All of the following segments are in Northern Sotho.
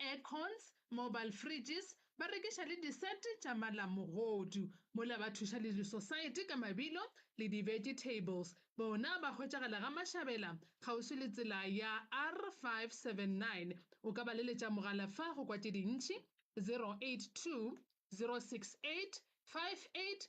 aircons, mobile fridges, ba rekiša le disete tša malamogodu, mola ba thuša le disosaete ka mabilo le di-vegetables. Bona ba hwetšagala Gamašabela, kgauswi le tsela ya R579. O ka ba leletša mogala fa go kwa tše dintši, 082 068 58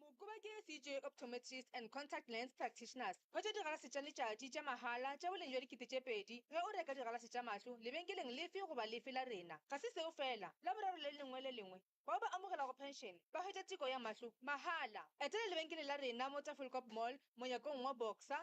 Mokoba ke CJ Optometrists and Contact Lens Practitioners. Hwetša digalase tša letšatši tša mahala tša boleng bja dikete tše pedi ge o reka digalase tša mahlo lebenkeleng lefe goba lefe la rena. Ga se seo feela, Laboraro le lengwe le lengwe, bao ba amogelago phenšene ba hwetša teko ya mahlo mahala. Etela lebenkele la rena mo Tafelkop Mall, monyakong wa Boxer,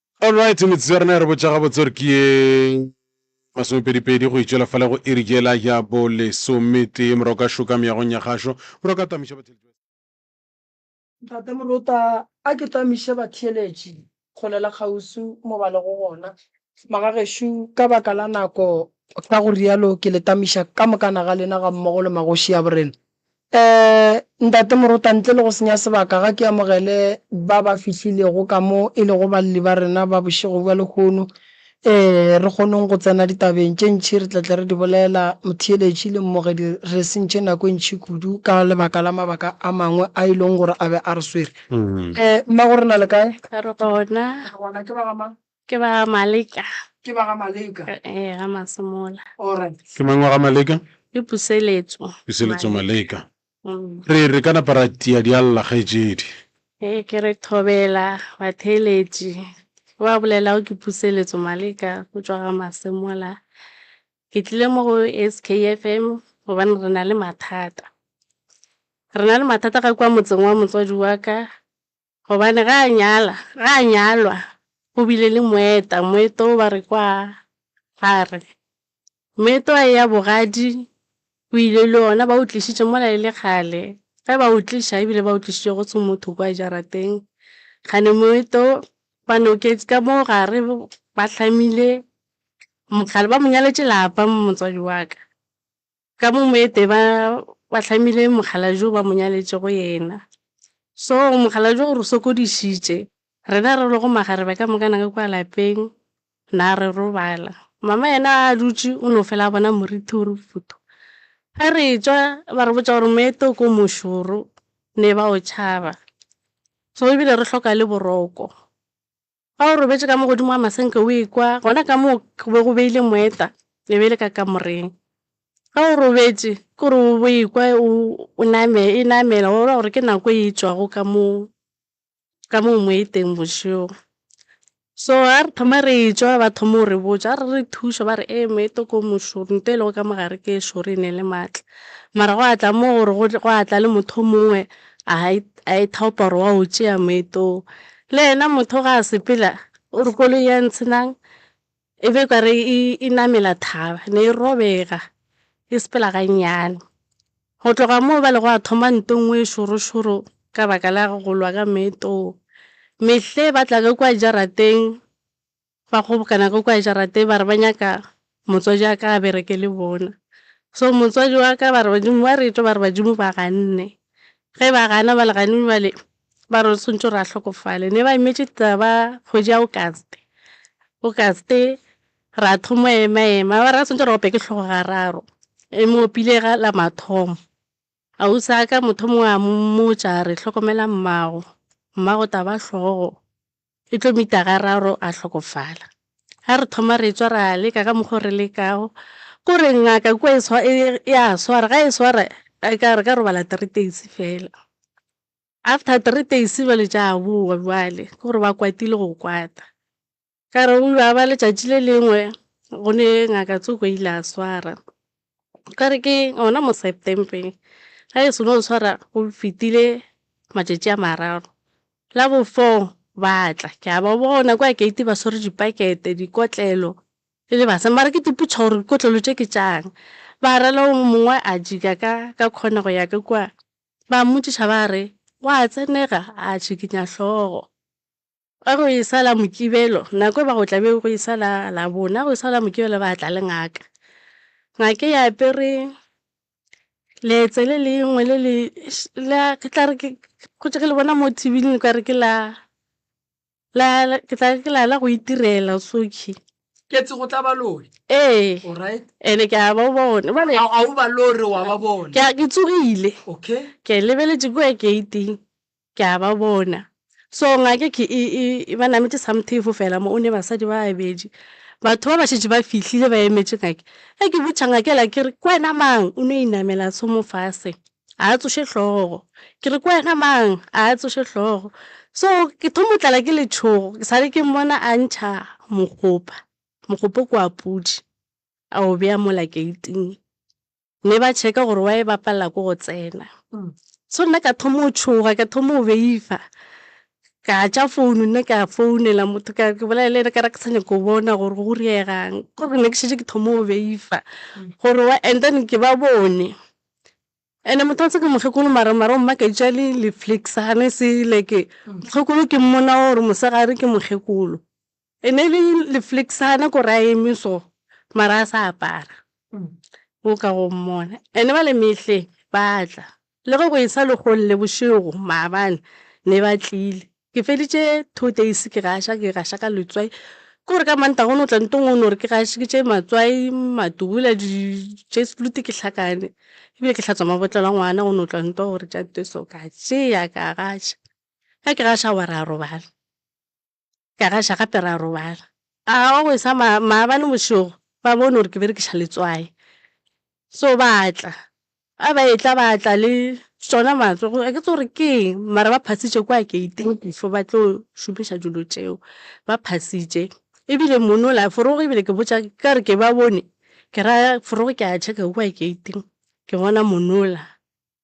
All right, metsotso ya rena ya re botša gabotse gore ke ye masomepedipedi go itšwela fale go iri jela ya bo lesometee morago ka šoka meagong ya gašo morago ka tamiša batheletši ba Ntate Morota, a ke tamiše batheeletši kgole le kgauswi mo ba lego gona. Magagešo, ka baka la nako, ka go realo ke le tamiša ka mokana ga lena gammogo le magoši a borena. Ee, Ntate Morota, ntle le go senya sebaka, ga ke amogele ba ba fihlilego ka mo e lego balli ba rena ba bošego bja lehono. Ee, re kgonong go tsena ditabeng tše ntši, re tla tle re di bolela. Motheeletši le mmogedi, re sentše nako e ntši kudu ka lebaka la mabaka a mangwe a e leng gore a be a re swere. Ee, mmago re na le kae? Re gona. Re gona. Ke ba ga mang? Ke ba ga Maleka. Ke ba ga Maleka. Ee, ga Masemola. Alright. Ke mang wa ga Maleka? Ke Puseletso. Puseletso Maleka. Re re ka napa ra tia dialla kgaetšedi. Ee, ke re thobela batheeletši. Ke ba bolelago ke Puseletso Maleka go tšwa ga Masemola. Ke tlile mo go SKFM gobane re na le mathata. Re na le mathata ga kwa motseng wa motswadi wa ka, Gobane ge a nyala, ge a nyalwa, go bile le moeta, moeta wo ba re ke wa gare. Moeta wa eya bogadi o ile le ona, ba o tlišitše mola e le kgale. Ge ba o tliša, ebile ba o tlišitše go se motho kua jarateng, kgane moeta wo ba noketše ka mo gare, ba hlamile mokgala, ba mo nyaletše lapa motswadi wa ka. Ka mo moete ba ba hlamile mokgalabje o ba mo nyaletšego yena. So mokgalabje o re sokodišitše. Rena re lego makgarebe ka moka naka kua lapeng, na re robala. Mama yena a dutše o no fela a bona morithi o re futhu. Ge re tšwa ba re botša gore moete o ko mošoro ne ba o tšhaba. So ebile re hloka le boroko. Ga o robetše ka mo godimo ga masenke o ekwa, gona ka moo go be go beile moeta, e be e le ka kamoreng. Ge o robetše ke gore o bo ekwa o e namela, wa bona gore ke nako e tšwago ka moo, ka moo moeteng bošego. So ga re thoma re etšwa ba thoma go re botša, ga re re thuša ba re ee moeta o ko mošoro, nto e lego ka mogare ke e šoro e ne e le maatla. Mara gwa tla mo gore gwa tla le motho o mongwe a e thaopa gore wa o tšea moeta o. Le yena motho ga a sepela o re koloi ya Ntshinang e be kare e namela thaba, ne e robega e sepela gannyane. Go tloga moo ba le gwa thoma ntwa e nngwe e šorošoro ka baka la go lwa ka meetong. Mehle ba tla ka kua jarateng ba kgobokana ka kua jarateng ba re ba nyaka motswadi wa ka a bereke le bona. So motswadi wa ka ba re badimo ba re etšwe ba re badimo ba ganne. Ge ba gana ba le gane bjale ba re swantšwe re a hlokofale. Ne ba imetše taba kgwedi ya Auguste. Auguste ra thoma ema ema ba re ga swantšwe re ope ke hlogo ga raro e mo opile ga la mathomo. Ausi wa ka motho o mongwe a mmotša a re hlokomela mmago, mmago taba hlogo E tlo mita ga raro a hlokofala. Ga re thoma re etswa ra leka ka mokgo re lekago. Ko re ngaka kua ya swara, ga e swara e ka re ka robala three days fela. After three days jwale tša bowa jwale ke gore ba kwatile go kwata. Ka re go a ba letšatši le lengwe go ne ngaka Tsuko ile a swara. Kare ke gona mo September ga e se no tshwara go fetile matšatši a mararo, la bo four ba tla ke a ba bona kwa gate ba swere dipakete, dikotlelo e le basadi mara ke ipotšiša gore dikotlelo tše ke tša'ng. Ba ra le yo mongwe a jika ka ka corner go ya ka kua, ba mmotšiša ba re, gwa tsenega? A tšhikinya hlogo. Ge go e sa la Mokibelo, nako e ba go tla be go e sa la Labona, go e sa la Mokibelo ba tla le ngaka. Ngaka e apere leetse le lengwe le le, la, ke tla re ke, gotše ge le bona mo thibeleng le ka re ke la, la, ke tla re ke la, la go itirela o s'o kye. Ketse go tla ba lore. Ee. Alright. And-e ke a ba bona. Bjale. A, a o ba lore, wa ba bona. Ke a, ke tsogile. Okay. Ke lebeletše kua gate-ing. ke a ba bona. So ngake ke e, e, e ba nametše samthefo fela mo, o ne basadi ba babedi. Batho ba ba šetše ba fihlile ba emetše ngake. Ge ke botša ngake yela ke re, Ke wena mang? O no inamela a thoma fase, ga a tsoše hlogo. Ke re, Ke wena mang? Ga a tsoše hlogo. So ke thoma go tlala ke letšhogo, ke sa le ke mmona a ntšha mogopa, mogopa o ke wa pudi, a o beya mola gate-ing. Ne ba checka gore wa e bapalela ko go tsena. So nna ka thoma o tshoga, ka thoma o beifa. Ka tša founu nna ka founela motho ka ke bolela le ena ka re ke sa nyaka go bona gore go reegang. Ke gore ne ke šetše ke thoma o beifa gore wa and then ke ba bone. Ene motho wa ntshe ke mokgekolo mara mara o mmaketša le le flicksane se like mokgekolo ke mmona gore mosegare ke mokgekolo. E ne le lefleksana ko ra eme so mara a sa apara o ka go mmona ene ba le mehle ba tla le ge go e sa le golle bošego maabane ne ba tlile ke feditše two days ke gaša ke gaša ka letswai ke gore ka mantaga o no tla ntlong o no re ke gašeditše matswai matubula dijeslute ke hlakane ebile ke hlatswa mabotlelo a ngwana o no tla ntwa gore tša nto e so ka tšea ka gaša ge ke gaša wa re a robala. Ka gaša gape ra robala. A wa go e sa ma, maabane bošego ba bone gore ke berekiša letswai. So ba tla. A ba etla ba tla le tšona matswe go, a ke tsebe gore ke eng, mara ba phasitše kwa gate-ing before ba tlo šomiša dilo tšeo. Ba phasitše. Ebile mono la forogo ebile ke botša, ka re ke ba bone, ke ra forogo ke a check-a kwa gate-ing, ke bona mono la.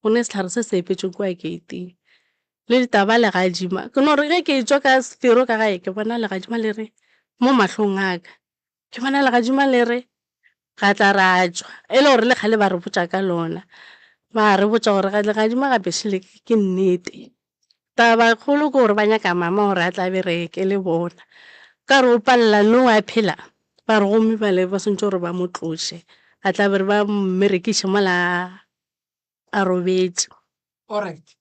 go ne sehlare se se epetšwe kua keiting le ditaba legadima ke no re ge ke tšwa ka sefero ka gae ke bona legadima le re mo mahlong a ka ke bona legadima le re ra tla ra tšwa e le gore le kgale ba re botša ka lona ba re botša gore legadima ga bešo le ke nnete. Taba e kgolo ke gore ba nyaka mama gore a tla a bereke le bona ka re o palela no a phela ba re gomme bale ba swantšwe gore ba mo tloše a tla be re ba mmerekiše mola a robetše. Alright.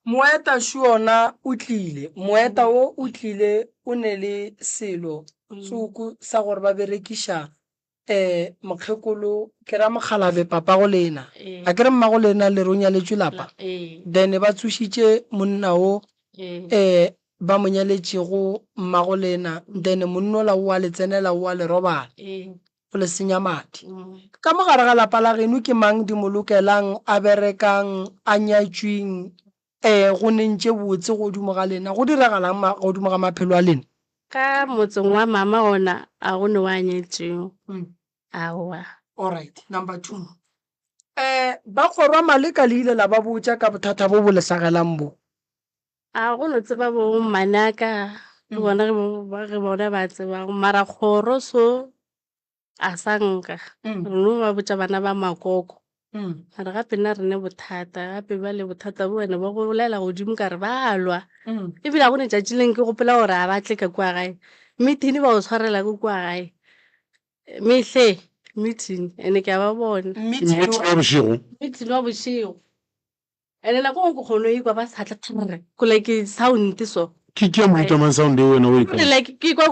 Moeta Shuona o tlile. Moeta wo o tlile o ne le selo tsuku sa gore ba berekiša eh mokgekolo ke ra mokgalabe papago lena. A ke re mmago lena le re o nyaletšwe lapa. Then ba tsošitše monna wo eh ba mo nyaletšego mmago lena then monnola o a le tsenela o a le robala. O le senya madi. Ka mo gare ga lapa la genu ke mang di mo lokelang, a berekang, a nyatšwing, ee, go neng tše botse godimo ga lena? Go diragalang ma, godimo ga maphelo a lena? Ka motseng wa mama ona a go ne wa nyetšwing? Aowa. Alright, number two. Ee, ba kgorwa maleka le ile la ba botša ka bothata bo bo le hlagelang bo? A go no tseba bo manaka le bona ge bo- ba- ge bona ba tsebago mara kgoro so a sa nka Mm. re no ba botša bana ba makoko Mm. mara gape nna re ne bothata gape ba le bothata bo wena ba go bolela godimo ka re ba a lwa Mm. ebile a go ne tšatši leng ke gopola gore a ba tle ka kua gae meeting ba o tshwarela ko kua gae mehle meeting and-e ke a ba bona Meeting wa bošego meeting wa bošego Ene nako nngwe ke kgono ikwa ba sa tle kgrr ko like sound so. Ke ke ya mo itamang sound eo wena o e kang. Like ke ikwa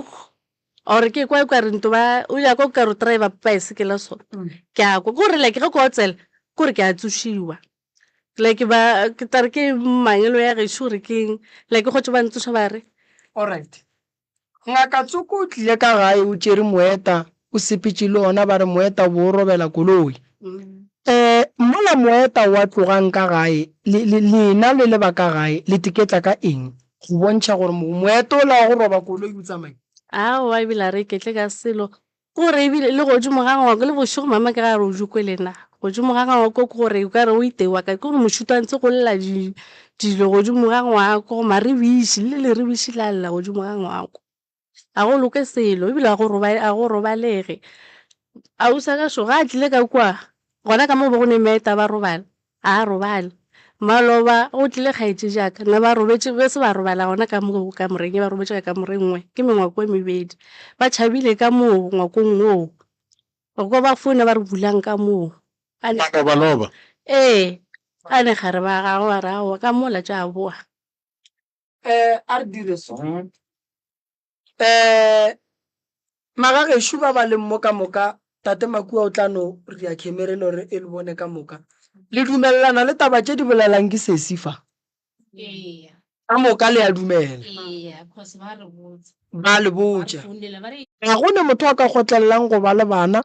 or ke ikwa ikwa rinto ba o ya kwa ka ro driver baesekela so. Ke a kwa gore like ge ko tsela gore ke a tsošiwa. Like ba ke tla re ke mangelo ya gešo gore keng like gotse ba ntsoša ba re. Alright Ngaka Tsoko o tlile ka gae o tšere moeta, o sepetše le ona ba re moeta o be o robela koloi. Ee, mola moeta wa tlogang ka gae, le, le, lena le le ba ka gae, le teketla ka eng, go bontšha gore mo, moeta ola wa go roba koloi o tsamaile? Aowa, ebile a re iketle ka selo, Gore e bile le godimo ga ngwako, le bošego mama ke ra re o jokwe le na. Godimo ga ngwako ke gore o ka re o itewa ka, ke gore mošito a ntse go lla di, dilo godimo ga ngwako, maribiši, le leribiši la lla godimo ga ngwako. Ga go loke selo, e bile ga go robale, ga go robalege. Ausi wa gašo ga a tlile ka kua, gona ka mo go be go neng ba eta ba robala, A a robale. Maloba, go tlile kgaetšejaka. Ne ba robetše, be se ba robala gona ka mo kamoreng ye, ba robetše ka kamoreng nngwe, ke mengwako e mebedi. Ba tšhabile ka moo ngwakong woo. Re kwa ba founa ba re bulang ka moo. A ne. Malobaloba. Ee. A ne gare ba gagwe ba re, Aowa, ka mola tša boa. A re dire so. um magagešo ba ba leng mo ka moka tate makua o tla no ria khemere lo re e le bone ka moka le dumelelana le taba tše di bolelang ke sesi fa ka moka le a dumela ba le botša ga go ne motho a ka kgotlelelang go ba le bana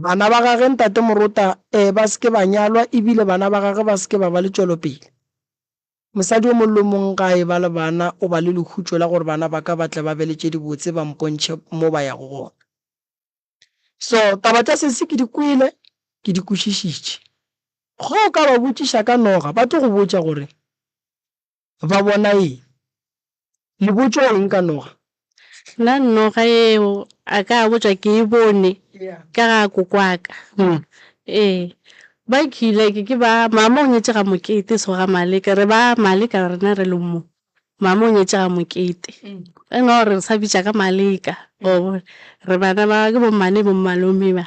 bana ba gage ntate morota um ba se ke ba nyalwa ebile bana ba gage ba se ke ba ba le tšwelopele Mosadi yo mongwe le yo mongwe ge a e ba le bana o ba le lehutšo la gore bana ba ka ba tle ba be le tše dibotse ba mpontšhe mo ba yago gona. So taba tša sesi ke di kwele, ke di kwešišitše. Ge o ka ba botšiša ka noga ba tlo go botša gore ba bona eng. Lebotšo eng ka noga? Nna noga yeo a ka botša ke e bone ka ga kokwaka. Ee, ba kile ke ba, mama o nyetše ga Mokete so ga Maleka, re ba Maleka rena re le mo, mama o nyetše ga Mokete. Re no re sa bitša ka Maleka wa bona, re bana ba, ke bo mmane bo mmalome ba.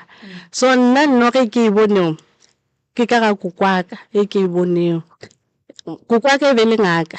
So nna noga e ke e bonego ke ka ga kokwaka e ke e bonego. Kokwaka e be le ngaka.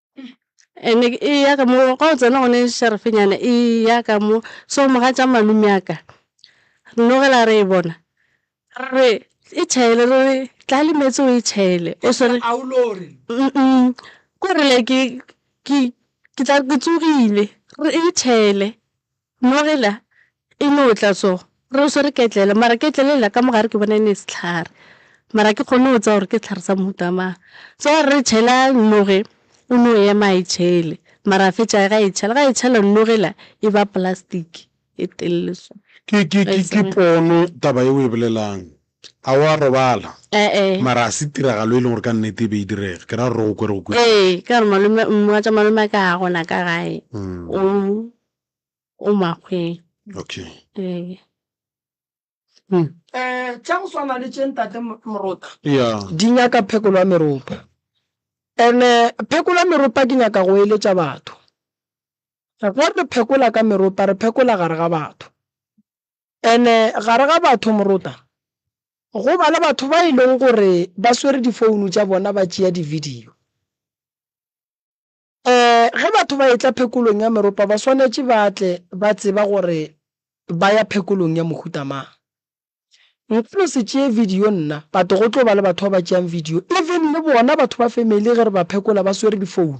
And-e eya ka mo, ga o tsena gone šarafenyana eya ka mo, so mogatša malome wa ka, re no ge la re e bona, re re e tšhele, re re tla le meetse o e tšhele, o swere k'ore like ke tla re ke tsogile, re re e tšhele, Mo gela, e no o tla so re o swere ketlele, mara ketlele yela ka mo gare ke bona e ne sehlare, mara ga ke kgone go tseba gore ke sehlare sa mohuta mang. So ga re re tšhela noge, o no ema a e tšhele, mara a fetša ge a e tšhela, ga e tšhela noge yela e ba plastic e telele so. Ke, ke, ke, ke pono taba ye o e bolelang. A wa robala? E-e. Mara ga se tiragalo e leng gore ka nnete e be e direga, ke ra gore o kwe re go kwetše. Ee, ka gore malome, mogatša malome a ka ga gona ka gae, o o makgweng okay ee um tša go swana le tše ntate morota yeah di nyaka phekolo ya meropa ene phekolo ya meropa ke nyaka go eletša batho ge re phekola ka meropa re phekola gare ga batho ene gare ga batho morota go ba le batho ba e leng gore ba swere difounu tša bona ba tšea di-video Ge batho ba etla phekolong ya meropa ba swanetše ba tle ba tseba gore ba ya phekolong ya mohuta mang. Nka no se tšee video nna, but go tlo ba le batho ba ba tšeang video, even le bona batho ba family ge re ba phekola ba swere difounu.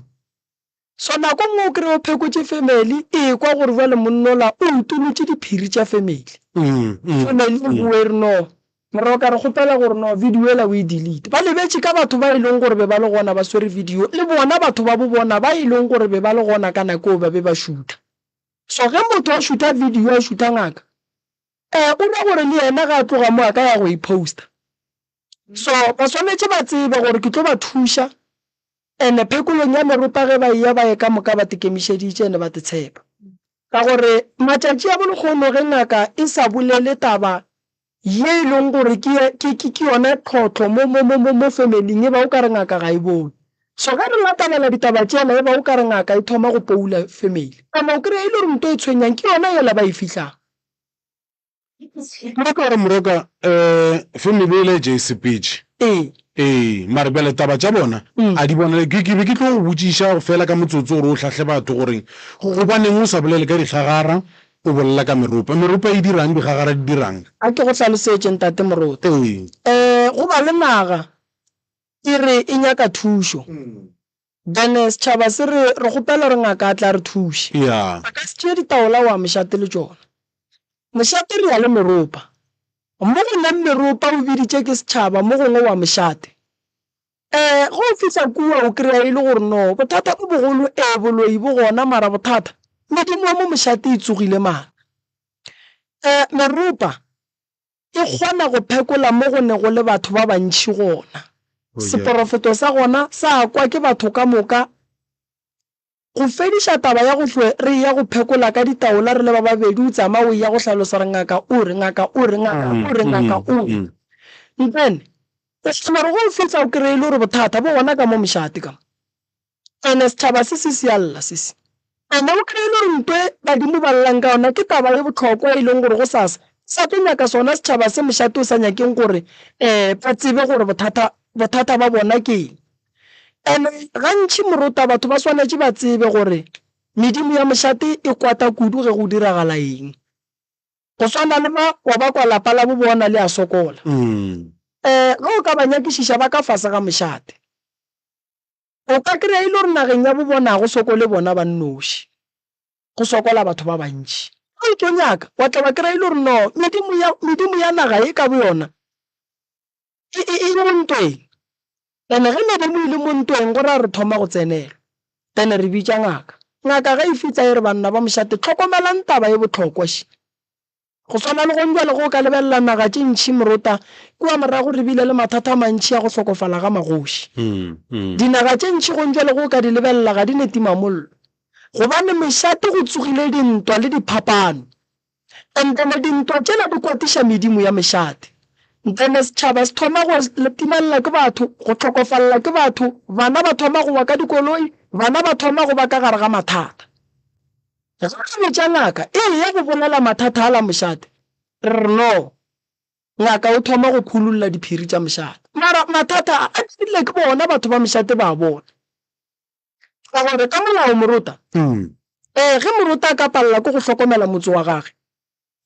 So nako nngwe o kry-e o phekotše family, e kwa gore bjale monna ola o utolotše diphiri tša family, family e boe e re no Moroka re kgopela gore no video yela o e delete. Ba lebetše ka batho ba e leng gore be ba le gona ba swere video le bona batho ba bo bona ba e leng gore be ba le gona ka nako eo ba be ba šutha. So ge motho a šutha video a šutha ngaka eh o ra gore le yena ge a tloga mo a ka ya go e poster. So ba swanetše ba tsebe gore ke tlo ba thuša and phekolong ya meropa ge ba eya ba ye ka moka ba te kemišeditše and ba te tshepa. Ka gore matšatši a bo lekgono ge ngaka e sa bolele taba Ye e leng gore ke, ke, ke, ke yona tlhohlo mo, mo, mo, mo, mo family-ing, e ba o ka re ngaka ga e bone. So ge re latelela ditaba tšela, e ba o ka re ngaka e thoma go poula family. Kana o kry-a e le gore nto e tshwenyang ke yona yela ba e fihlago. Nna ke gore Moroka, um family yela e ja e sepetše. Ee. Ee, mare bjale taba tša bona a di bonale. Ke, ke be ke tlo go botšiša fela ka motsotso gore o hlahle batho gore gobaneng o sa bolele ka dikgagara, O bolela ka meropa. Meropa e dira'ng? Digagara di dira'ng? A ke go hlalosetše, Ntate Moruti? Ee. Go ba le naga e re e nyaka thušo, then setšhaba se re, re kgopela gore ngaka a tle a re thuše. A ka se tšee ditaola wa mošate le tšona. Mošate re ya le meropa. Mo go leng meropa o biditše ke setšhaba, mo gongwe wa mošate. Ee, ge o fihla kua o kry-a e le gore no bothata bo bogolo, ee, boloi bo gona mara bothata medimo ya mo mošate e tsogile mara. Um meropa e kgona go phekola mo go ne go le batho ba bantšhi gona, seporofeto sa gona sa kwa ke batho ka moka Go fediša taba ya go hlwe re eya go phekola ka ditaola re le ba babedi, o tsamaya o eya go hlalosa gore ngaka o re, ngaka o re, ngaka o re, ngaka o re. Mpene, o kgona gore ge o fihla o kreye e le gore bothata bo gona ka mo mošate ka mo. Ene sethaba se se sialla sese. Ene o kreye e le gore nto e badimo ba llelang ka yona ke taba ye bohlokwa e leng gore go sasa ba sa tlo nyaka sona sethaba se mošate o sa nyakeng gore ba tsebe gore bothata, bothata ba bona ke eng. Ene gantši morota batho ba swanetše ba tsebe gore medimo ya mošate e kwata kudu ge go diragala eng. Go swana le ba wa ba kwa lapa la bo bona le a sokola. Ge o ka ba nyakišiša ba ka fase ga mošate, o ka kry-a e le gore nageng ya bo bona ga go sokole bona ba nnoši, go sokola batho ba bantši. Ge o tlo nyaka, wa tla wa kry-a e le gore no medimo ya, medimo ya naga ye ka boyona E, e, e mo ntweng. And-e ge ne be mo ile mo ntweng, go raya re thoma go tsenelwa. Then re bitša ngaka. Ngaka ge e fihla e re, Banna ba mošate, hlokomelang taba e bohlokwa še. Go swana le gonjwale ge o ka lebelela naga tše ntši morota, kua morago re bile le mathata a mantši a go hlokofala ga magoši. Dinaga tše ntši gonjwale ge o ka di lebelela ga di ne timamollo, gobane mošate go tsogile dintwa le diphapano. Ntene dintwa tšela di kwatiša medimo ya mešate. Ntene setšhaba se thoma go latimalela ke batho, go hlokofalela ke batho, bana ba thoma go wa ka dikoloi, bana ba thoma go ba ka gare ga mathata. Ge re botša ngaka e eya go bolela mathata ala mošate, re re no. Ngaka o thoma go khululla diphiri tša mošate. Mara mathata a, a dirile ke bona batho ba mošate ba a bona. Ka gore ka molao morota, ee, ge morota a ka palela ke go hlokomela motse wa gage,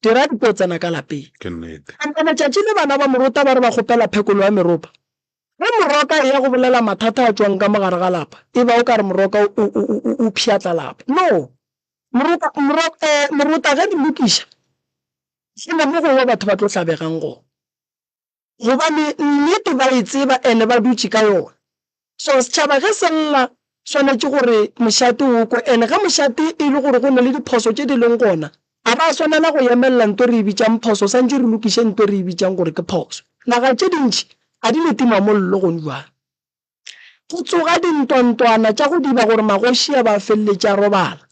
dira di tlo tsena ka lapeng. Ke nnete. Empa letšatši le bana ba morota ba re ba kgopela phekolo ya meropa, ge moroka a eya go bolela mathata a tšwang ka mo gare ga lapa, e ba o ka re moroka o, o, o, o, o pšhatla lapa. No. Moroka, moro, ee, morota ge di lokiša, go na mo gongwe batho ba tlo hlabegang gona. Gobane nnete ba e tseba and ba dutše ka yona. So setšhaba ge se lla swanetše gore mošate o kwe and ge mošate e le gore go na le diphoso tše di leng gona, a ba swanela go yemelela nto e re e bitšang phoso swantše re lokiše nto e re e bitšang gore ke phoso. Naga tše dintši a di le timamollo gone bjale. go tsoga dintwantwana tša go diba gore magoši a ba feleletše a robala,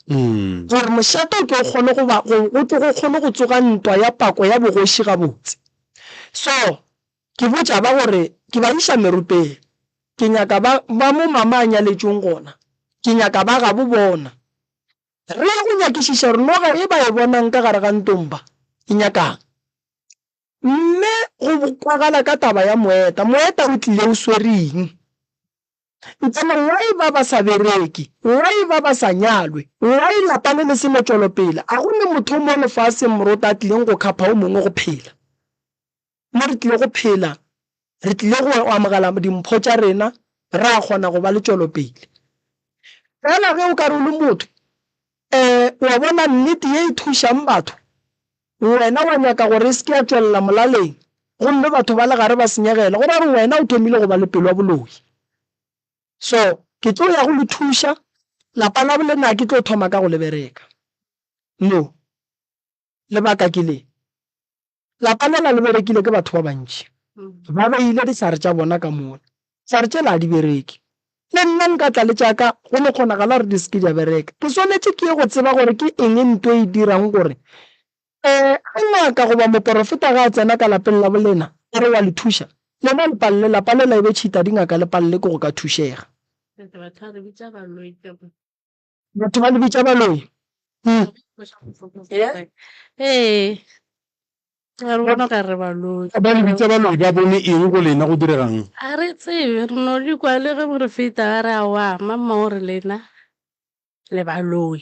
gore mošate o tlo kgone go ba go go tlo go kgone go tsoga ntwa ya pako ya bogoši gabotse. So ke botša ba gore ke ba iša merupeng, ke nyaka ba ba mo mama a nyaletšweng gona, ke nyaka ba gabo bona. Re ya go nyakišiša gore noga ye ba e bonang ka gare ga ntomba e nyaka'ng. Mme go kwagala ka taba ya moeta. Moeta o tlile o swere eng? Ntsana why ba ba sa bereke? Why ba ba sa nyalwe? Why lapa le le se no tšwelopele? A go ne motho mo lefaseng moroto a tlileng go khapha o mongwe go phela? Mo re tlile go phela re tlile go amogela dimpho tša rena, re a kgona go ba le tšwelopele. Fela ge o ka re o le motho, um wa bona nnete ye e thušang batho, wena wa nyaka gore e se ke ya tšwelela molaleng gomme batho ba le gare ba senyegele, go ra gore wena o thomile go ba le pelo ya boloi. So, ke tlo ya go le thuša, lapa labo le nna ke tlo thoma ka go le bereka. No. Lebaka ke le. Lapa lela le berekilwe ke batho ba bantši. Ba beile dihlare tša bona ka mola. Dihlare tšela ga di bereke. Le nna nka tla le tša ka, go no kgonagala gore di se ke di a bereka. Ke swanetše ke ye go tseba gore ke eng nto e dirang gore ge ngaka goba moporofeta ge a tsena ka lapeng la bolena a re wa le thuša, lena le palelwe. Lapa lela e be tšhita dingaka le palelwe ke go ka thušega. Batho ba le bitša baloi. Ee, ra re bona okare baloi. Ba le bitša baloi ba bone eng go lena, go direga'ng? A re tsebe, re no di kwa le ge re feta, ba re aowa, mamma o re lena le baloi.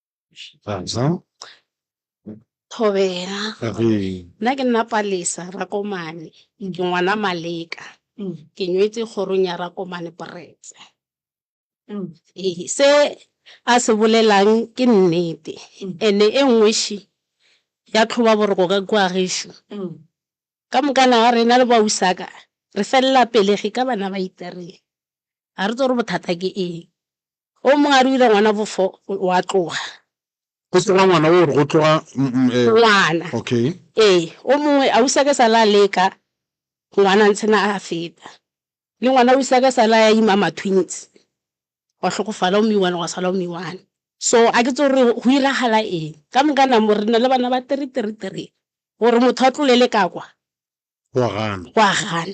Thobela, Nna ke nna Palesa Rakomane, ke ngwana Maleka, ke nyetše kgorong ya Rakomane Pretse. Ee, se a se bolelang ke nnete and-e e nngweši ya tlhoba boroko ka kua gešo. Ka moka na rena le bausaka re felela pelegi ka bana ba itereng, ga re tsebe gore bothata ke eng. O mongwe a re o ile ngwana bofo wa tloga. Go se ra ngwana o re go tloga ngwana. Okay. Ee, o mongwe ausi a ke sa la leka ngwana ntshena a feta. Le ngwana ausi a ke sa la ya ima ma twins wa hlokofala o me-one gwa sala o me-one. So a ke tso re go iragala eng ka moka na mo re na le bana ba three three three gore motho a tlolele ka kwa wa gana wa gana.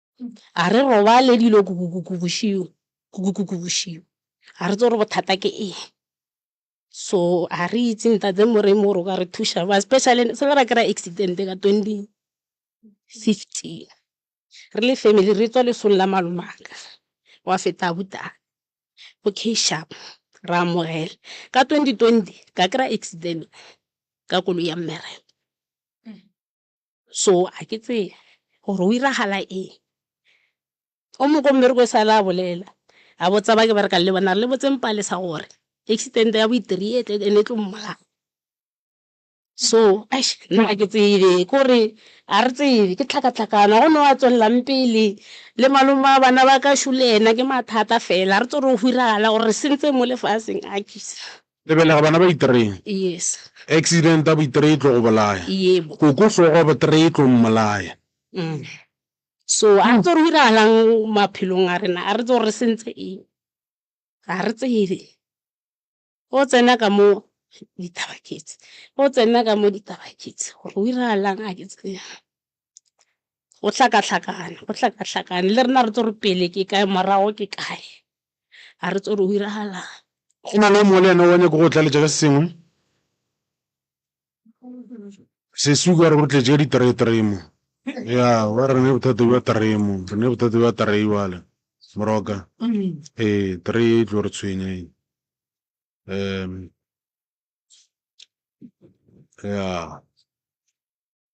Ga re robale dilo kukukuku bošego, kukukuku bošego. Ga re tsebe gore bothata ke eng. So ga re itse Ntate Moremi gore o ka re thuša byang, especially se le ra kry-a accident ka twenty fifteen, re le family re tswa lesong la malomaka, gwa feta abuti ko K-sharp, re a amogela. Ka twenty twenty ka kry-a accident ka koloi ya mmereko. So a ke tsebe gore go iragala eng. O mongwe ko mmerekong e sale a bolela, a botsa ba ke berekang le bona a re, Le botseng Palesa gore accident ya bo-three e tle and-e e tlo mmolaya. So eish nna a ke tsebe, ke gore ga re tsebe, ke tlhakatlhakano. Ga go na o a tswelelang pele, le malome wa bana ba ka sure ena ke mathata fela. Ga re tsebe gore go go iragala gore re sentse mo lefaseng, akhis. Lebelega bana ba i-three. Yes. Accident ya bo-i-three e tlo go bolaya. Yebo. Koko hlogo ya bo-three e tlo mmolaya. So a re tse gore go iragalang maphelong a rena, a re tse gore re sentse eng, ga re tsebe. O tsena ka mo ditaba ke tse, o tsena ka mo ditaba ke tse, gore go iragalang ga ke tsebe. go hlakahlakane go hlakahlakane le rena re tlo re pele ke kae morago ke kae ga re tso re o iragalang go na le o mongwe le ena wa nyako go tlaletša ka se sengwe sesuku a re go tletše ka ditereteremo ya wa re ne bothata bja teremo re ne bothata bja terei wale moroka ee terei e tlo re tshwenya e um ya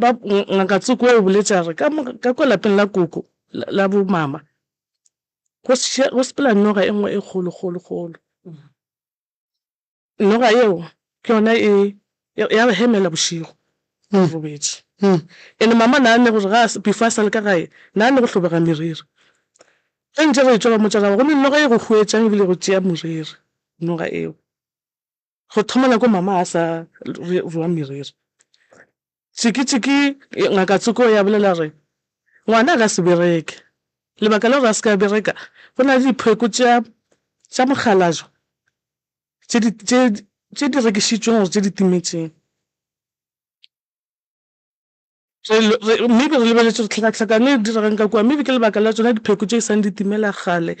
ba ngaka tsoko o boletše a re ka kwa lapeng la koko la bo mama go sepela noga e nngwe e kgolo kgolo kgolo noga yeo ke yona e ya re hemela bošego re robetše and mama na ne gore ga before a sale ka gae na ne go hlobega meriri ge ntše re tšwa ba motša ra ba gomme noga e go huetšang ebile go tšea moriri noga eo. Go thoma nako mama a sa rua meriri, Tšiki-Tšiki, Ngaka Tsoko, ya bolela gore ngwana a ka se bereke. Lebaka la gore a se ke a bereka, go na le dipheko tša mokgalajwa tše di rekišitšweng gore tše di timetšeng. Re, re, mme be re lebeletše gore tlhakatlhakano e diregang ka kua, mme be ke lebaka la tšona dipheko tše e sang di timela kgale.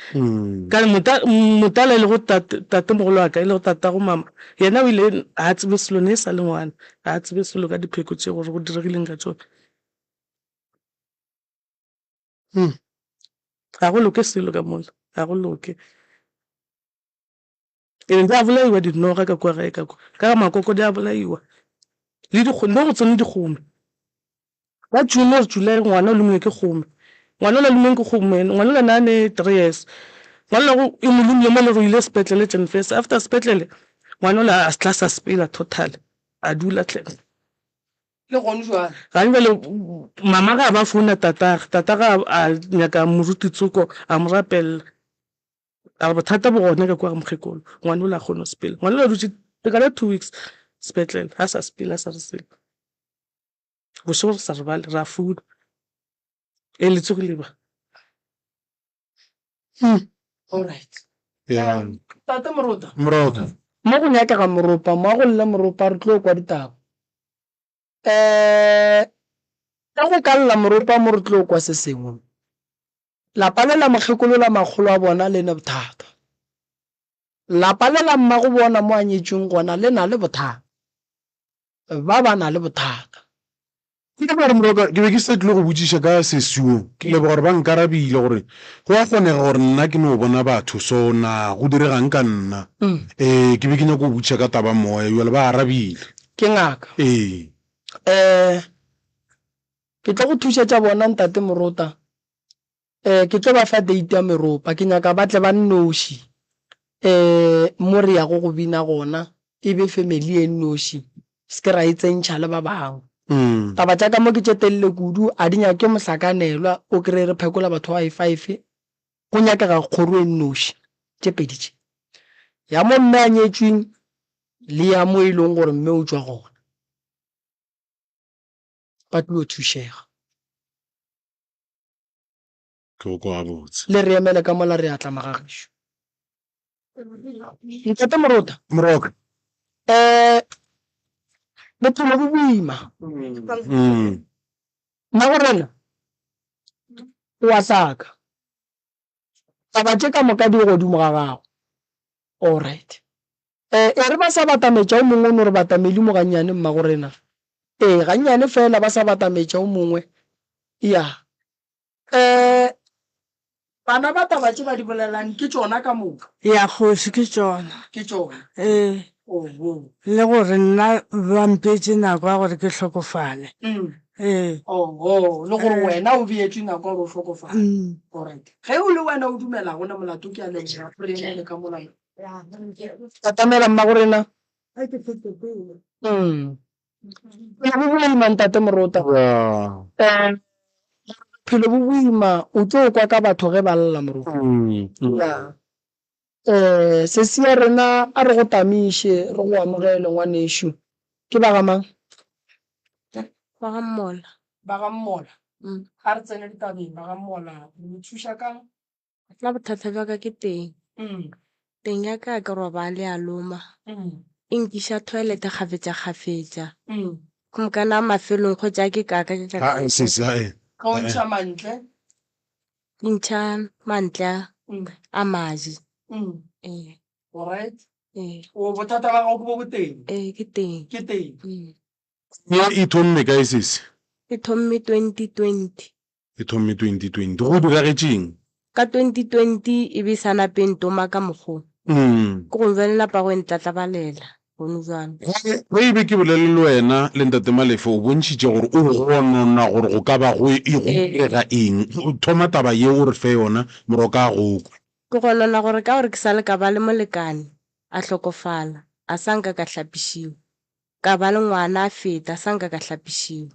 Ka re, mota, motala e lego tate, tatemogolo wa ka, e lego tatago mama, yena o ile, ga a tsebe selo, ne e sa le ngwana, ga a tsebe selo ka dipheko tše, gore go diregileng ka tšona. Ga go loke selo ka mola, ga go loke. Ke ne di a bolaiwa dinoga ka kua gae, ka kwa, ka ga makoko di a bolaiwa, le dikgome, mo go tsone dikgome. Ka June or July ngwana o lomilwe ke kgome, ngwana o la lumiwang ke kgome ene, ngwana o la ne a ne three years, ngwana o la e mo lomile mo e le gore o ile sepetlele jan first, after sepetlele ngwana o la a tla sa sepela totally, a dula hle. Le gone jwale. Gane jwale mama ga a ba founa tatagwe, tatagwe a nyaka moruti Tsoko a mo rapelela, A re bothata bo gona ka kua mokgekolo, ngwana ola ga kgone go sepela. Ngwana ola dutše lekala two weeks sepetlele, ga sa sepela, ga sa re selo. Bošego re sa robale, ra founa, Ee, le tsogile ba? Mo go nyakega moropa, mo a go lle moropa, re tlo kwa ditaba. Ka go ka lla moropa mo re tlo kwa se sengwe. Lapa le la mokgekolo la makgolo a bona le ne bothata. Lapa le la mmago bona mo a nyetšweng gona le na le bothata. Ba ba na le bothata. Ke leboga gore Morwa ka, ke be ke sa tlile go botšiša ka sesi wo. Ke leboga gore ba nkarabile gore go a kgonega gore nna ke no bona batho. So, na go direga'ng ka nna? Ee, ke be ke nyako go botšiša ka taba Moya. Bjale ba arabile. Ke ngaka. Ee. Ee, Ke tlo go thušetša bona, Ntate Morota. Ee, ke tlo ba fa date ya meropa. Ke nyaka ba tle ba nnoši, ee, mo re yago go bina gona, e be family e nnoši, se ke ra e tsentšha le ba bangwe. Taba tša ka mo ke tše telele kudu, a di nyake mohlakanelwa, o kry-e re phekola batho ba bayi-five, go nyakega kgoro e nnoši, tše pedi tše, ya mo mme a nyetšweng le ya mo e leng gore mme o tšwa gona. ba tlo thušega. Tlhoko gabotse. Le re emele ka mola, re a tla mogagešu. Ntate Morota. Moroka. Um, bophelo bo boima. Mmagorena o a hlaka. Taba tše ka moka di godimo ga gago. All right. E, e re ba sa batametša o mongwe o no re batameli mo gannyane mmagorena. E, gannyane fela ba sa batametša o mongwe. Ya. E, bana ba taba tše ba di bolelang ke tšona ka moka. Ya kgoši, ke tšona. Ke tšona. E. le gore nna ba mpeetše nako ya gore ke hlokofale. Ee. Oho, le gore wena o beetšwe nako ya gore o hlokofale. Alright. Ge o le wena o dumela go na molato, ke a leboga go re emele ka mola. Atamela Mmagorena. A ke fete pele. Bophelo bo boima Ntate Morota. Yeah. Bophelo bo boima, o tlo kwa ka batho ge ba lla Morota. Yeah. Ee, sesi ya rena, a re go tamiše, re go amogele, ngwanešu. Ke ba ga mang? Ba ga Mmola. Ba ga Mmola. A re tsene ditabeng, ba ga Mmola. Re le thuša ka'ng? Nna bothata bja ka ke teng. Teng ya ka ke robale ya loma. E nkiša toilet kgafetšakgafetša. Go mokana a mafelong, kgotša a ke kaka, ke kaka. Haa, sesi, haa. Ka o ntšha mantle. Di ntšha mantle a maje. Ke teng. Ye e thomme kae sesi? E thomme 2020. E thomme 2020. Go diragetše'ng? Ka 2020 e be e sa nape e ntoma ka mokgo, ke gong bjale napa go e ntlatlabalela. Bone bjang? Ge e be ke bolele le wena, le Ntate Malefe o bontšhitše gore o gonona gore go ka ba go e, go direga eng. Thoma taba ye o re fe yona, morwa ka a go kwe. Ke gonona gore ka gore ke sa le ka ba le molekane, a hlokofala, a sa nka ka hlapišiwa. Ka ba le ngwana a feta, a sa nka ka hlapišiwa.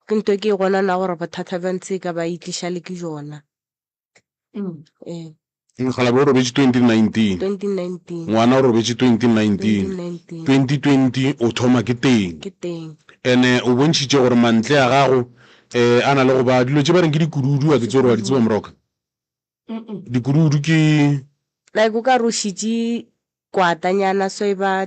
Ke nto ke gona na gore bothata bja ntse ka ba itliša le ke jona. E. Mokgalabje o robetše 2019. Ngwana o robetše 2019. 2020 o thoma ke teng. Ene o bontšhitše gore mantle a gago a na le go ba dilo tše ba reng ke dikududu a ke tse gore wa di tseba moroka. Dikududu ke. Like o ka re o šitše kwatanyana so e ba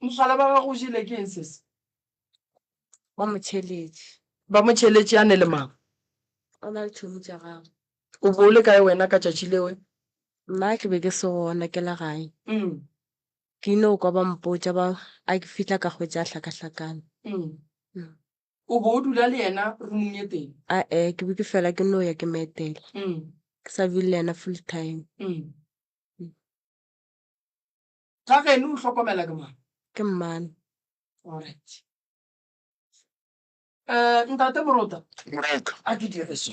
Mogalabje wa gago o jele ke eng sese? Ba mo tšheletše. Ba mo tšheletše a ne le mang? O na le tšhomi tša gagwe. O bo o le kae wena ka tšatši leo? Nna ke be ke se gona, ke le gae. Ke ile go kwa ba mpotša ba a ke fihla ka hwetša a hlakahlakane. O bo o dula le yena rumong ye tee? A-e, ke be ke fela ke no ya ke mo etela. Ke sa dule le yena full time. Ga geno o hlokomela ke mang? Ke mmane. Alright. Eh, ntate Morota. Moreka. A ke dire so.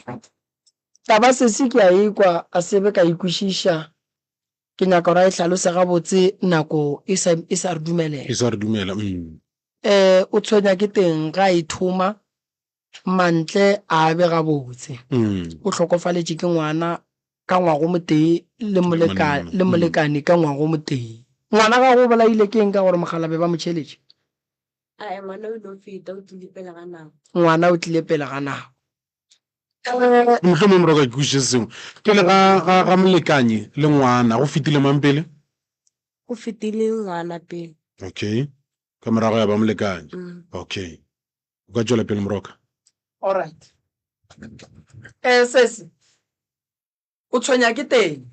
Taba sesi ke a ekwa a sebe ka ikwešiša. Ke nyaka gore a e hlalose gabotse nako e sa, e sa re dumelela. E sa re dumela, umm. Eh, o tshwenya ke teng ga a e thoma, Mantle a be gabotse o hlokofaletše ke ngwana ka ngwagomotee le molekane ka ngwagomotee. Ngwana gagwe o bolaile ke eng ka gore mogala be ba mo tšheletše? A e ngwana o ile o feta, o tlile pele ga nako. Ngwana o tlile pele ga nako. E, mohlomongwe mora o ka ke kwešiše se sengwe. Pele ga molekane le ngwana go fetile mang pele? Go fetile ngwana pele. Okay. Ka morago ya ba molekane. Okay. o ka tšwela pele moroka Alright. Eh sesi. O tshwenya ke teng.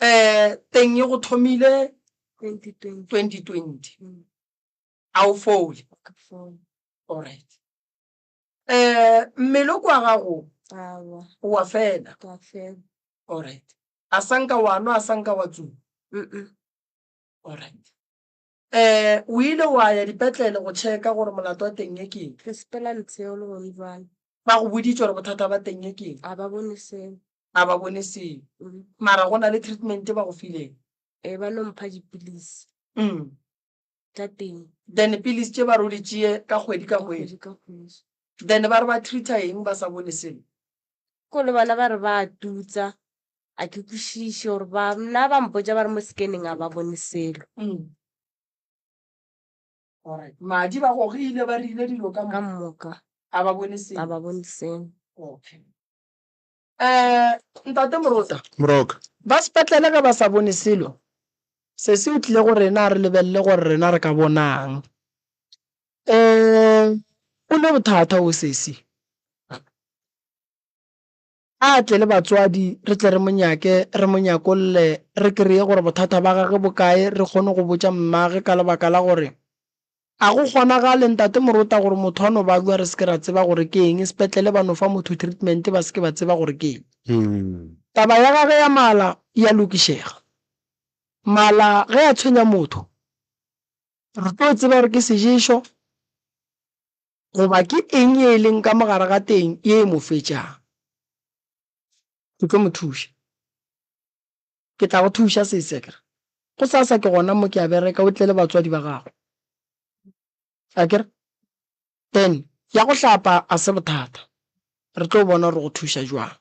Eh teng e go thomile 2020 2020. Mm, A o fole. ka foo. Alright. Eh mmele o kwa gago Awa, wa fela. ka fela. Alright. A sanka wa nwa a sanka wa tsuba. Mm-mm. Alright. Ee, o ile wa ya dipetlele go tšheka gore molato wa teng ye keng? Re sepela letseo le gone bjale. Ba go boditše gore bothata ba teng ye keng? A ba bone selo. A ba bone selo. Mm. Mara go na le treatment e ba go fileng? Ee, ba no mpha dipilisi Mm. tša teng Then pilisi tše ba re o di tšee ka kgwedi ka ka kgwedi. kgwedi ka kgwedi. Then ba re ba treater eng ba sa bone selo? Ko le bona ba re ba a tutsa a ke kwešiše gore ba nna ba mpotsa ba re mo scanning a ba bone selo Mm. Alright. madi ba gogile ba rile dilo ka ka mo moka a ba bone a selo ba bone selo okay um ntate morota moroka ba sepetlele ge ba sa bone selo se se o tlile go rena re lebelele gore rena re ka bonang um o ne bothata o sesi A tle le batswadi, re tle re mo nyake, re mo nyakolle, re kreye gore bothata ba gage bo kae, re kgone go botša mmage ka lebaka la gore A go kgonagale, Ntate Morota, gore motho a no balwa re se ke ra tseba gore ke eng, sepetlele ba no fa motho treatment ba se ke ba tseba gore ke eng? Taba ya gage ya mala e a lokišega. Mala ge a tshwenya motho, re tlo tseba gore ke seješo. Goba ke eng ye e leng ka mo gare ga teng ye e mo fetšago? Ke tlo mo thuša. Ke tla go thuša, sese, ke re. Go sasa ke gona mo ke a bereka, o tle le batswadi ba gago. A ke re? Then, ya go hlapa a se bothata. Re tlo bona gore go thuša jwang.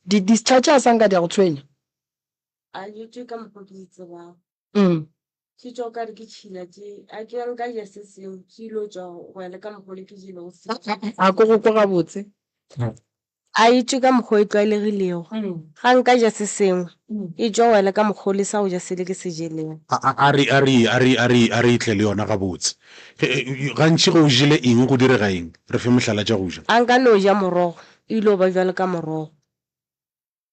Di-discharge a sa nka di a go tshwenya? A dutše ka mokgwa ke di tsebago. Umm. Ke tšwa o ka re ke tšhila tše. A ke wa nka ja se seo, ke yilo tšwa go ya le ka mokgwa ole ke jelego seo. A ko go kwa gabotse. A e tšwe ka mokgwa o e tlwaelegilego. Ga nka ja se sengwe, e tšwa go ya le ka mokgwa ole sa go ja sele ke se jelego. A re, a re, a re, a re, a re e tle le yona gabotse. Gantši ge o jele eng go direga eng? Re fe mohlala tša go ja. A nka no ja morogo, e yilo ba bjalo ka morogo.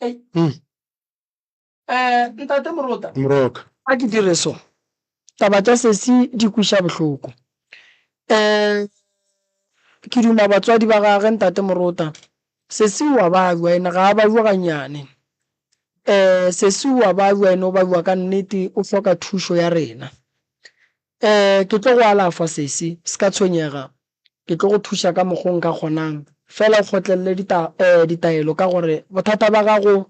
Ei. Hmm. Eh, ntate Morota, moroka a ke dire so. Taba tša sesi di kwiša bohloko. Eh, ke duma batswadi ba gage ntate Morota. Sesi wa balwa ene ga a balwa ganyane. Eh, sesi wa balwa ene o balwa ka nnete o hloka thušo ya rena. Eh, ke tlo go alafwa sesi, se ka tshwenyega. Ke tlo go thuša ka mokgo nka kgonang. Feela o kgotlelele dita, eh, ditaelo, ka gore bothata bja gago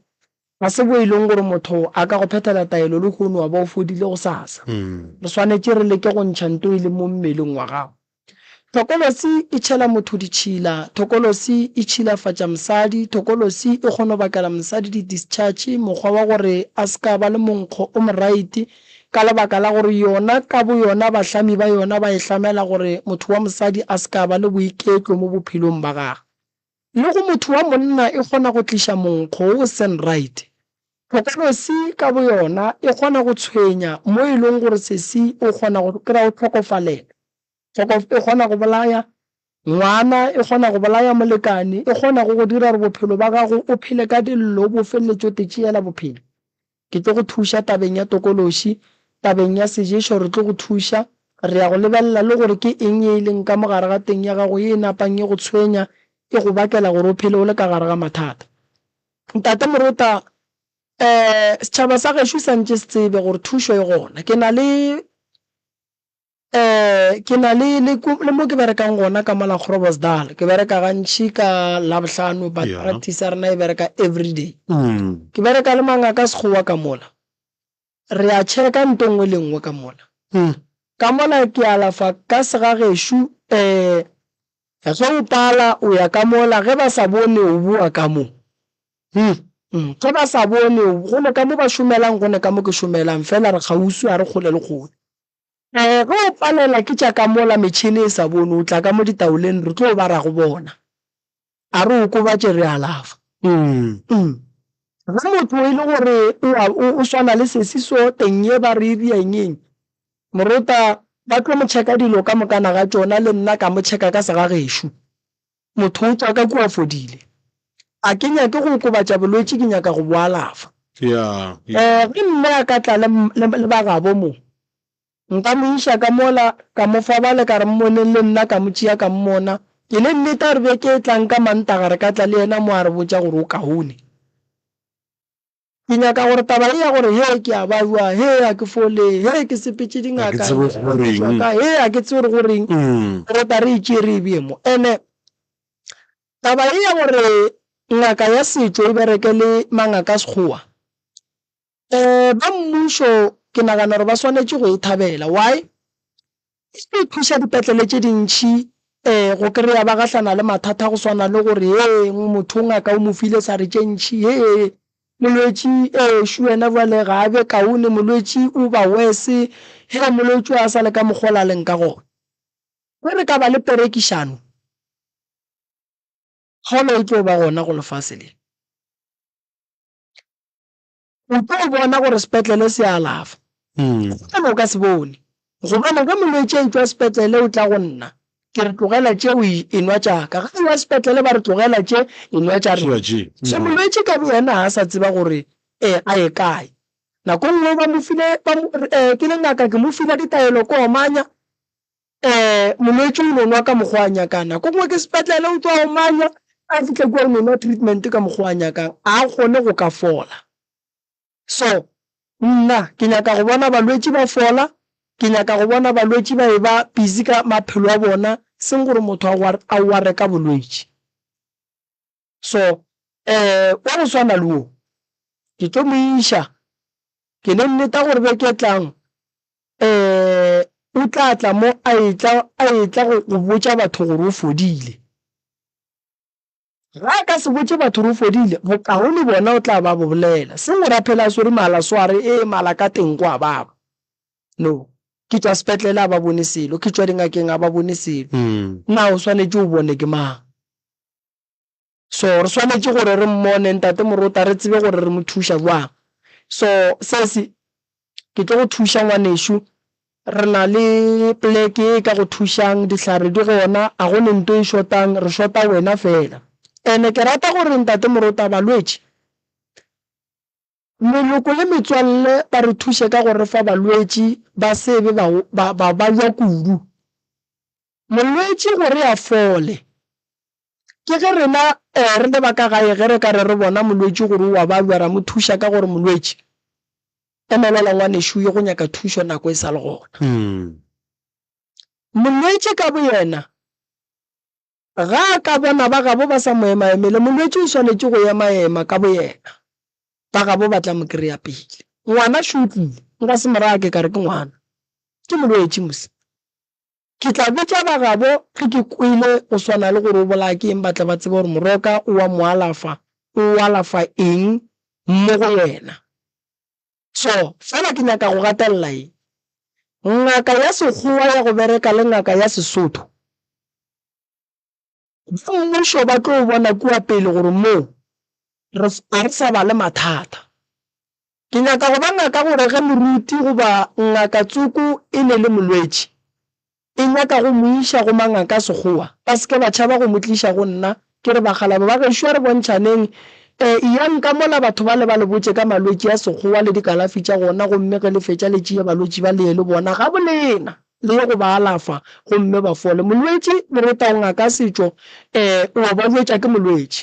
ga se bo e leng gore motho a ka go phethela taelo lehono wa ba o fodile gosasa. Re swanetše re leke go ntšha nto e leng mo mmeleng wa gago. Thokolosi e tšhela motho ditšhila. Thokolosi e tšhilafatša mosadi. Thokolosi e kgono bakela mosadi di-discharge, mokgwa wa gore a se ka ba le monkgo o moraite. Ka lebaka la gore yona ka boyona bahlami ba yona ba e hlamela gore motho wa mosadi a se ka ba le boiketlo mo bophelong ba gagwe. Le go motho wa monna e kgona go tliša monkgo wo o seng right. Tlhokolosi ka boyona e kgona go tshwenya mo e leng gore sesi o kgona go kry-a o hlokofalela. Kgokof e kgona go bolaya ngwana, e kgona go bolaya molekane, e kgona go go dira gore bophelo ba gago o phele ka dillo, o bo felletše o te tšeela bophelo. Ke tlo go thuša tabeng ya tokološi, tabeng ya seješo re tlo go thuša, re ya go lebelela le gore ke eng ye e leng ka mo gare ga teng ya gago ye e napang e go tshwenya, e go bakela gore o phele o le ka gare ga mathata. Ntate Morota, Ee, setšhaba sa gešo sa ntše se tsebe gore thušo e gona. Ke na le. Ke na le le le mo ke berekang gona ka mola Groblersdal ke bereka gantši ka labohlano but Yeah. practice ya rena e bereka everyday Mm. ke bereka le mangaka sekgowa ka mola re a checka nto nngwe le nngwe ka mola Mm. ka mola ke alafa ka segagešu um ge o pala o ya ka mola ge ba sa bone o boa ka mo Mm. Mm, ge ba sa bone o- gone ka mo ba šomelang gone ka mo ke šomelang fela re kgauswi ga re kgole le kgole Ee, ge o palela ke tša ka mola metšhene e sa bone, o tla ka mo ditaoleng re tlo bara go bona. A re okobatše re alafa. Ge motho e le gore o swana le sesi so, teng ye ba re e ria engeng, morota ba tlo mo checka dilo ka mokana ga tšona, le nna ka mo checka ka segagešo. Motho o tšwa ka kua a fodile. A ke nyake go okobatša bolwetši, ke nyaka go bo alafa. Ee, ge mme a ka tla le, le, le bagabo mo, nka mo iša ka mola, ka mo fa bale, ka re, Mmoneng le nna, ka mo tšea ka mmona. E le nnete, a re beke e tlang ka Mantaga re ka tla le yena mo a re botša gore o kaone. Ke nyaka gore taba ye ya gore hee ke a baiwa, hee ga ke fole, hee ke sepetše dingaka, hee ke thuswa ka, hee ga ke tsebe gore go reng, re tla re e tšee re e bee mo. And-e taba ye ya gore ngaka ya setšo e bereke le mangaka a Sekgowa, ba mmušo ke nagana gore ba swanetše go e thabela. Why? E tlo thuša dipetlele tše dintši go kry-a ba gahlana le mathata go swana le gore hee motho ngaka o mo file sa re tše ntši hee molwetši ešo wena bjale ga a be kaone molwetši o ba worse hee molwetši a sa le ka mokgwa o la leng ka gona. Ge re ka ba le perekišano kgolo e tlo ba gona go lefase le. o tlo bona gore sepetlele se alafa gobane o ka se bone gobane ge molwetse a etswa sepetlele o tla go nna ke re tlogela tše o enwa tšaka ga ewa sepetlele ba re tlogela tše enwa tša re so molwetse ka bo yena ga a sa tseba gore um a ye kae nako nngwe ba mo file ke le ngaka ke mo file ditaelo ko omanya Ee, molwetši o no nwa ka mokgwa a nyakang. Nako e nngwe ke sepetlele o tšwa omanya, a fihle kua o no nwa treatment ka mokgwa a nyakang, a kgone go ka fola. So, nna ke nyaka go bona balwetši ba fola, ke nyaka go bona balwetši ba e ba busy ka maphelo a bona, seng gore motho a ware ka bolwetši. so um wa go swana le wo ke tlo mo iša ke le nneta gore be ke tlang um o tla tla mo a etla a etla go go botša batho gore o fodile ga ka se botše batho gore o fodile bokago le bona o tla ba bo bolela se ngora phela a swere mala sware e mala ka teng kwa baba no ke tswa sepetlele a ba bone selo ke tswa dingakeng a ba bone selo hmm. na o swanetše o bone ke mang so re swanetše gore re mmone ntate morota re tsebe gore re mo thuša jwang so sese ke tlo go thuša ngwanešu re na le pleke e ka go thušang dihlare di gona a go ne nto e shotang re shota wena fela ene ke rata gore ntate morota balwetše Meloko le metswalle ba re thuše ka go re fa balwetši ba se be ba balwa kudu. Molwetši gore a fole, ke ge rena re le ba ka gae ge re ka re re bona molwetši gore o a balwa, ra mo thuša ka go re, Molwetši, emelela ngwanešu o ye go nyaka thušo nako e sa le gona. Molwetši ka boyena Ga a ka bona ba gabo ba sa mo emaemele, molwetši o swanetše go emaema ka boyena. Ba gabo ba tla mo kry-a pele. Ngwana še o tlile. Nka se mo raya ke ka re ke ngwana. Ke molwetši mosima. Ke tla botša ba gabo ge ke kwele go swana le gore o bolaya ke eng ba tle ba tsebe gore moroka o a mo alafa, o alafa eng mo go yena. So, fela ke nyaka go gatelela eng? Ngaka ya Sekgowa ya go bereka le ngaka ya Sesotho ba mmušo ba tlo bona kua pele gore moo ga re sa ba le mathata. Ke nyaka go ba ngaka gore ge moruti goba ngaka tsoko e ne le molwetši, E nyaka go mo iša go mangaka a Sekgowa. Ba se ke ba tšhaba go mo tliša go nna. Ke re, Bakgalabo ba gešo, a re bontšhaneng. Eyang ka mola batho bale ba le botše ka malwetši a Sekgowa le dikalafi tša gona, gomme ge le fetša le tšee balwetši ba le ye le bona gabolena, le ye go ba alafa gomme ba fole. Molwetši, le re, Taongaka Setšo o a ba jwetša ke molwetši.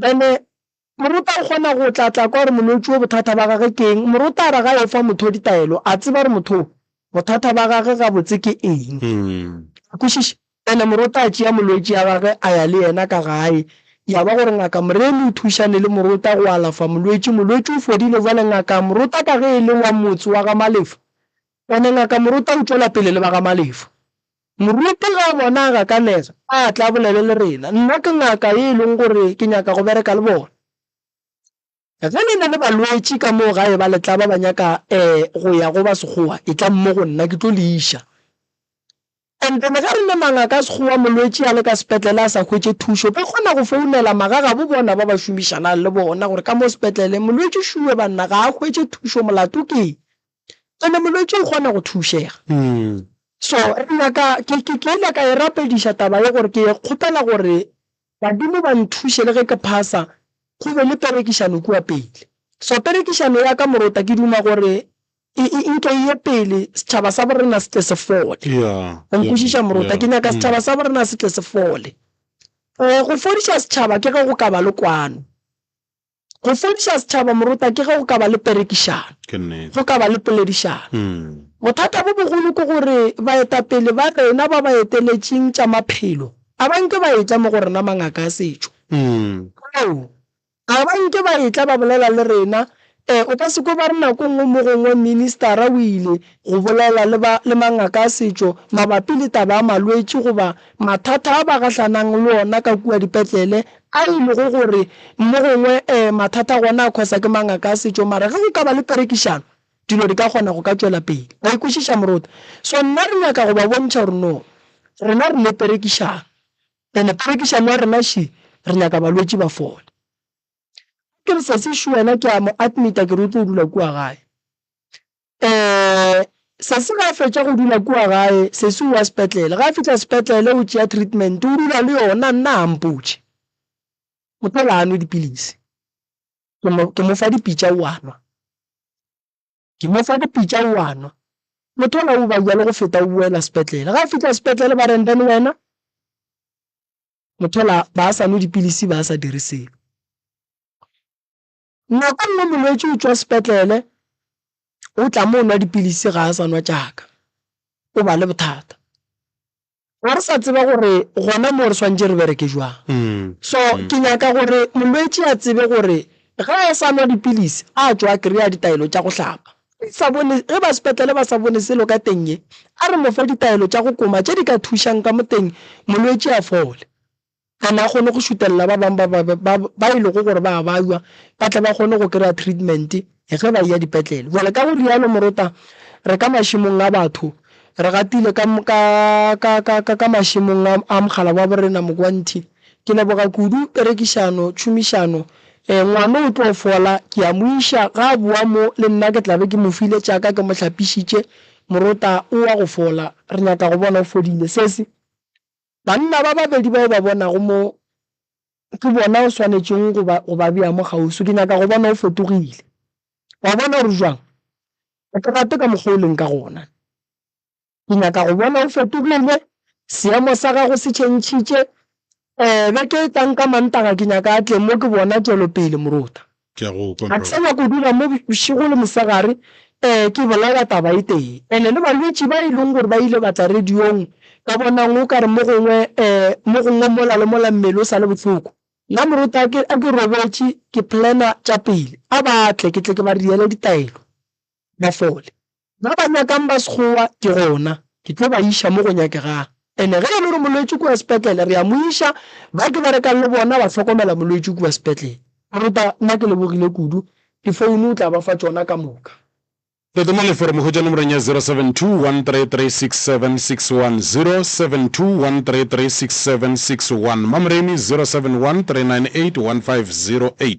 Bene, Morota o kgona go tla tla kwa gore molwetši wo bothata ba gage ke eng. Morota a re ga yo fa motho ditaelo, a tseba gore motho wo bothata ba gage gabotse ke eng. A kwešiša? Bene, Morota a tšea molwetši ya gage a ya le yena ka gae. Ya ba gore ngaka Moremi o thušane le Morota go alafa molwetši. Molwetši o fodile. Bjale ngaka Morota ka ge e le wa motse wa ga Malefo, bene, ngaka Morota o tšwela pele le ba ga Malefo. Moruti ge a bona a gakanega, a tla a bolele le rena. Nna ke ngaka ye e lego gore ke nyaka go bereka le bona. Ge le na le balwetši ka moo gae ba letla ba ba nyaka go ya go ba Sekgowa, etlang mo go nna, ke tlo le iša. And then ge re le mangaka a Sekgowa, molwetši a le ka sepetlele a sa hwetše thušo, ba kgona go founela magagabo bona ba ba šomišanang le bona gore ka mo sepetlele, Molwetši Shuwe banna ga a hwetše thušo, molato keng? Ene molwetši o kgona go thušega. So re nyaka, ke ile ka e rapediša taba ye gore ke kgopela gore badimo ba nthuše le ge ke phasa, go be le perekišano kua pele. So perekišano ya ka morota ke duma gore e nke e ye pele, setšhaba sa borena se tle se fole. O nkwešiša morota? Ke nyaka setšhaba sa borena se tle se fole. Go fodiša setšhaba ke ge go ka ba le kwano. Go fodiša setšhaba moruta ke ge go ka ba le perekišano, Ke nnete. go ka ba le poledišano. Mm. Bothata bo bogolo ke gore baetapele ba rena ba ba eteletšeng tša maphelo a ba nke ba etla mo go rena mangaka a setšo. Mm. Ao, a ba nke ba etla ba bolela le rena. E, o ka se kwe ba re nako nngwe mo gongwe ministara o ile go bolela le ba le mangaka a setšo mabapi le taba ya malwetši goba mathata a ba gahlanang le ona ka kua dipetlele a e lego gore mo gongwe mathata gona a khosa ke mangaka a setšo, mara ge go ka ba le perekišano, dilo di ka kgona go ka tšwela pele. Wa e kwešiša moruti? So nna re nyaka go ba bontšha gore no, rena re le perekišano, and perekišano ya rena še re nyaka balwetši ba fole. Ke re, Sesi, šo wena? Ke a mo admit-a ke re o tlo dula kua gae. Eh, sesi ga a fetša go dula kua gae, sesi o wa sepetlele. Ga a fihla sepetlele, o tšea treatment, o dula le yona, nna ga mpotše. Mothela a nwe dipilisi. Ke mo, ke mo fa dipitša o a nwa. Ke mo fa dipitša o a nwa. Mothela o ba bjalo go feta o boela sepetlele. Ga a fihla sepetlele ba reng then wena, Mothela ba sa nwe dipilisi, ba sa dire selo. Nako nngwe molwetši o tšwa sepetlele, o tla mo nwa dipilisi ga a sa nwa tšaka, o ba le bothata. Ga re sa tseba gore gona mo re swantše re bereke jwang. Mm. So mm. ke nyaka gore molwetši a tsebe gore ge a sa nwa dipilisi a tšwa kry-a ditaelo tša go hlapa. sa bone ge ba sepetlele ba sa bone selo ka teng ye a re mofe ditaelo tša go koma tše di ka thušang ka moteng molwetši a fole a ne a kgone go šutelela ba bangwe ba ba ba ba e lego gore ba a baywa ba tle ba kgone go kry-a treatment ge ba eya dipetlele jale ka go rialo morota re ka mašemong a batho re gatile ka ka ka ka ka ka mašemong a a mogala wa borena mokwantšhi ke leboga kudu perekišano tšhomišano um ngwano o tlo fola ke a mo iša ga a boa mo le nna ke tlabe ke mo file tšaka ke mo hlapišitše morota o wa go fola re nyaka go bona o fodile sesi Banna ba babedi ba o ba bonago mo, ke bona o swanetšego go ba, go ba bea mo kgauswi. Ke nyaka go bona o fetogile. O a bona gore o jwang? Ga ke rate ka mokgwa o leng ka gona. Ke nyaka go bona o fetogile, seemo sa gago se tšhentšhitše. Beke e tlang ka Mantaga ke nyaka a tle mo, ke bona tšwelopele, moruta. Ke a go kwa Ga ke sa nyako dula mo bošego le mosegare, ee, ke bolela taba e tee. And le balwetši ba e leng gore ba ile ba tla radiong, ka bonang o ka re mo gongwe, ee, mo gongwe mola le mola mmele o sa le bohloko. Nna moruti a ke, a ke robetše, ke planner tša pele, a ba tle, ke tle ke ba reele ditaelo, ba fole. Ba ba nyakang ba Sekgowa ke gona ke tlo ba iša mo go nyakegang. Ene ge e le gore molwetši kua sepetlele, re a mo iša. Ba ke berekang le bona ba hlokomela molwetši kua sepetlele. Moruta, nna ke lebogile kudu. Difounu o tla ba fa tšona ka moka. Tota mo leforomong hwetša nomorong ya 0721336761, 0723367661, Mamreni, 0713981508.